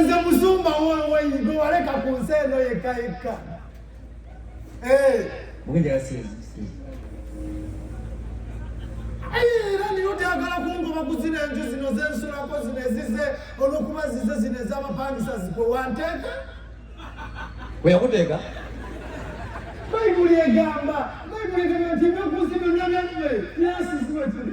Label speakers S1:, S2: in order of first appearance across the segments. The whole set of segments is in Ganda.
S1: nze musumba gwe waleka ku nsi eno yekka yekka
S2: era
S1: niyo tyagala kungoba ku zino enju zino zensulako zino ezize olwokuba zize zino ezabapangisa zikwe wanteeka weyakuteeka bayibuli egamba bayibuli egamba nti ebyokusi byonna byamme byasisiwetuli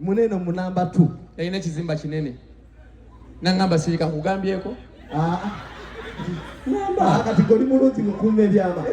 S2: Muneno mu number
S3: 2. Yalina kizimba kinene.
S2: Nangamba sirika kugambyeko. Ah.
S3: Namba ah, kati goli mulungi mukuume byama.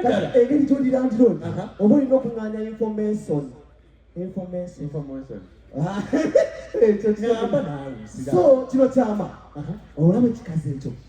S3: Kati engeri gyoli landlord oba olina okung'anya information. Information. Information. Ah. Ekyo kyama. So kino kyama. Olaba ekikazi ekyo.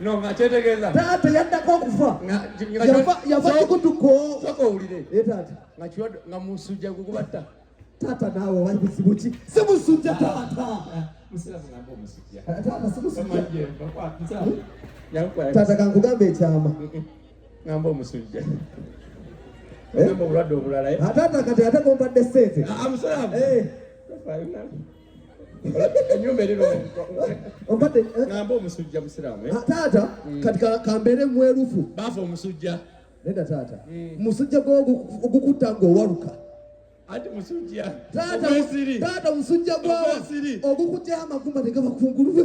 S3: No,
S2: nga kyetegeeza taata yaddako okufa
S3: yava kikutuko soka owulire eh,
S2: taata
S3: nga
S2: musujja gugubatta taata naawe
S3: oba bizibu ki si musujja taata taata kankugamba ekyama ngamba
S2: omusujja obulwadde obulala eh? ah, taata kati ate
S3: gombadde sente ah,
S2: enyumba eri lwompadde
S3: ngamba omusujja
S2: musiraamu eh? ah, taata mm. kati
S3: kambeere mwerufu baafa omusujja
S2: nedda taata
S3: mm. musujja gwogukutta ng'owaluka ati
S2: musujja taata
S3: musujja gwawa ogukutya amagumba tegaba kungulube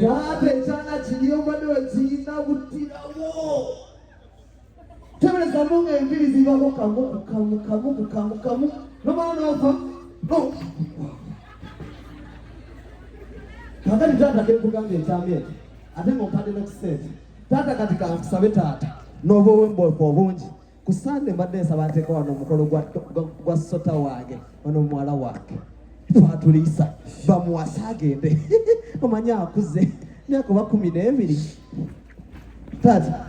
S3: Taata ekyana kiri obadde wekirina butirawo teberezamu nga enviri zibako kamu kukamu kamu kukamu kamu nomala nofa kakati taata kekugamba ekyama ekyo ate nga ompadde nokusente taata kati kankusabe taata noba owemboka obungi ku sande mbadde nsaba nteeka wano omukolo gwa sota wange ono muwala wange twatuliisa bamuwasa agende omanyi akuze myaka oba kumi n'ebiri taata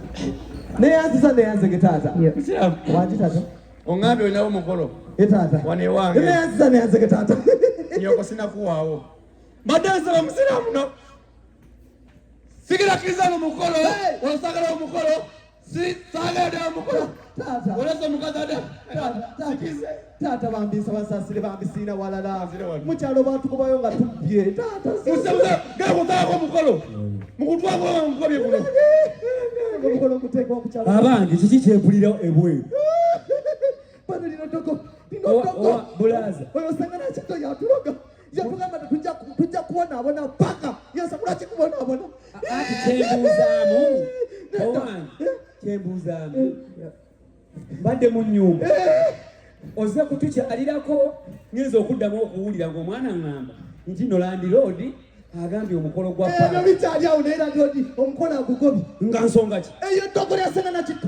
S3: neyanziza neyanzege taata wangi taata ongambye olinawo
S2: omukolo e taata wanewange
S3: neyanziza
S2: neyanzege taata
S3: nyoko
S2: sinakuwaawo mbadde nsaba musiraamu no sigira kirizano mukolo osagala omukolo
S3: taata bambi nsaba nsasire bambi siina walala mukyalo bwatukubayo nga tubbye taatagekozaako
S2: omukolo mukutwakoamukobye kuno
S3: omukolo guteeka omukyalo abange kiki kyempulira
S4: ebweru
S3: bano lino togo lino togo
S4: bulaza oyo osanga
S3: nakito yatuloga yatugamba tujja kubonaabona paka yasakula kikubonaabona ati
S4: kyembuuzaamu owange kyembuuzaamu mbadde mu nyumba oze kutukyalirako ngenza okuddamu okuwulira ngaomwana ngamba nti nolandiroodi agambye omukolo gwa ebyo bikyali awo naye
S3: landiroodi omukolo agugobi nga nsonga ki
S4: eyo ddogolo yasena
S3: nakitto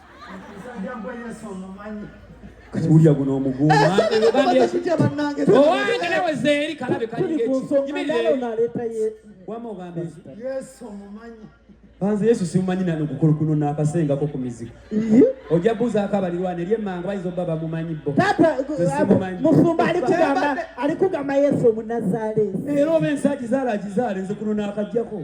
S1: kati wulira guno
S4: omuguwa owange nawe
S3: zeeri
S5: kalabe
S1: banze yesu
S4: simumanyi nano gukulu kuno nakasengako ku mizigo ojja buuzaako abalirwana eri emmanga bayinza obba bamumanyi bo
S5: musumba ali kugamba yesu omunazaaleesi era oba ensi
S4: agizaala agizaale nze kuno nakajjako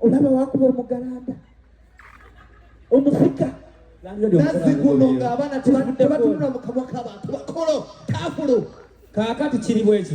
S5: olaba wakuba omugalanda omufika nazzikuno
S3: ng'abaana tebatunula mu
S4: kamwa
S3: k'abantu bakolo
S4: kafulu
S3: kaakati
S4: kiri
S3: bwekyo